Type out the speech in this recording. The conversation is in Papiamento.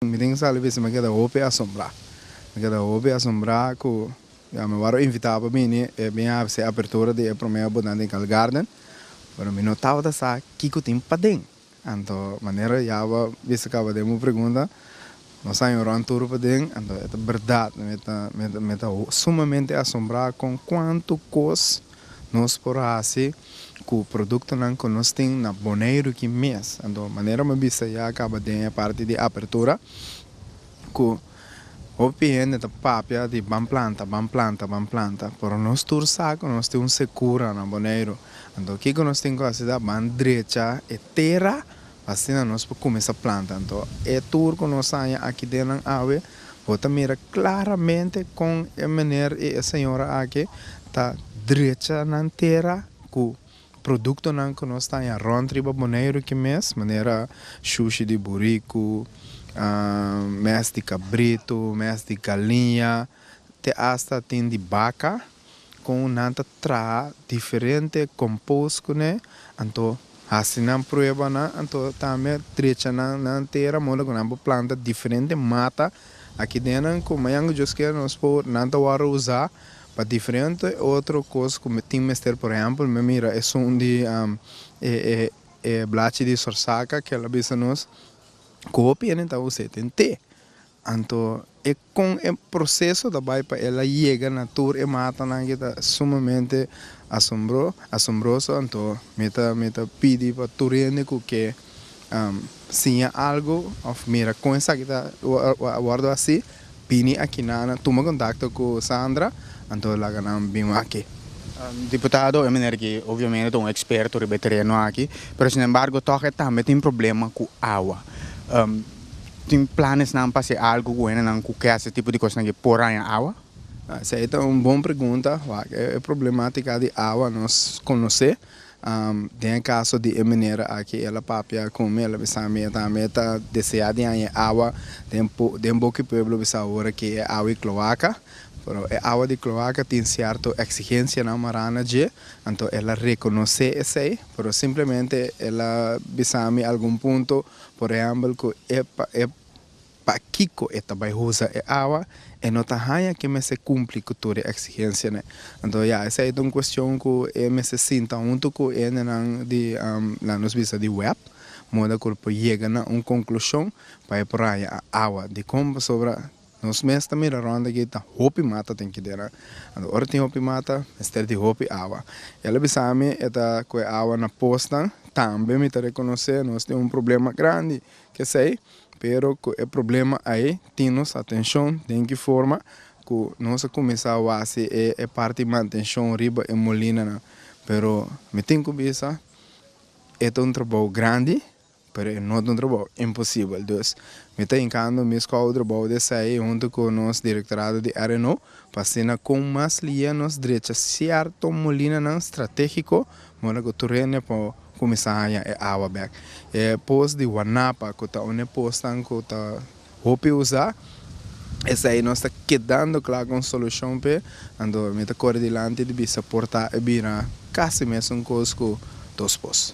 Mi tin sali bisa mi a keda hopi asombrá. Mi a keda hopi asombrá ku ya mi wòrdu invitá pa bini e bin hasi apertura di e promé boda den Cal Garden, pero mi no tabata sa kiko tin paden. Anto manera ya bo a bisa kaba den bo pregunta, nos a yon rònt tur paden, anto e ta bèrdat. Mi ta sumamente asombrá kon kuantu kos. Nos por hasi cu productonan cu nos tin na Boneiru aki mes. Anto, manera mi a bisa ya caba den e parti di apertura, cu hopi hende ta papia di ban planta, ban planta, ban planta, pero nos tur sa cu nos tin un secura na Boneiru. Anto, kico nos tin cu hasi ta ban drecha e tera Asina nos por cuminsa planta. Anto e tur cu nos saña aki den nan awe, bo ta mira claramente con e meneer y e señora aki ta drecha nan tera cu productonan cu nos taña rond riba Boneiru aki mes, manera shushi di buricu, mes di cabrito, mes di galiña, te hasta tin di baca. kon nan ta traha diferente compost kuné anto hasi nan prueba nan anto tambe drecha nan nan tera modo ku nan por planta diferente mata aki den nan ku mañana Dios kier nos por nan ta wòrdu usa pa diferente otro kos ku tin mester por ehempel mi a mira esun di e blachi di sorsaka kier la bisa nos ku hopi hende ta usa e den te anto e Kon e proseso ta bai pa el a yega na tur e matanan aki ta sumamente asombroso, anto mi ta mi ta pidi pa tur hende ku ke siña algu òf mira kon esaki ta a wòrdu hasi, bini akinana, tuma kontakto ku Sandra, anto laga nan bin aki. Diputado, e meneer aki obviamente ta un eksperto riba e tereno aki, pero sinembargo tòg e tambe tin problema ku awa. tin planesnan pa hasi algu ku hendenan ku ke hasi tipo di kosnan aki por haña awa? Esei ta un bon pregunta. Wak, e problematika di awa nos konosé. Den e kaso di e mener aki, el a papia ku mi, el a bisa mi e tambe ta deseá di haña e awa den den boki pueblo bisao wora ke e awa di kloaka. Pero e awa di kloaka tin sierto eksigensianan marana dje, anto el a rekonosé esei, pero simplemente el a bisa mi algun punto. Por ehèmbel ku e e pakiko e ta bai usa e awa, e no ta haña ke mester kumpli ku tur e eksigensianan. Anto ya, esei ta un kuestion ku e mester sinta huntu ku hendenan di, la nos bisa di web, moda ku lo por yega na un konklushon pa e por haña awa. Dikon pasobra? Nos mes ta mira rònt aki ta hopi mata ten kidera. Anto ora tin hopi mata, mester di hopi awa. El a bisa mi e ta kohe awa na posnan. Tambe mi ta rekonosé nos tin un problema grandi ku esei, pero ku e problema ei tin nos atenshon. Den ki forma ku nos a kuminsá wasi e parti di mantenshon riba e molinanan. Pero mi tin ku bisa e ta un trabou grandi Pero e no ta un trabou imposibel, dus mi ta hinkando mi skou trabou di esei huntu ku nos direktorado di RNO pa asina kon mas liia nos drecha sierto molinanan stratégiko moda ku Turenia por kuminsá haña e awa bèk. E pos di Wanapa ku ta un e posnan ku ta hopi usá, esei nos ta kedando kla kon solushon p'e, anto mi ta kore dilanti di bisa portá e bira kasi mesun kos ku dos pos.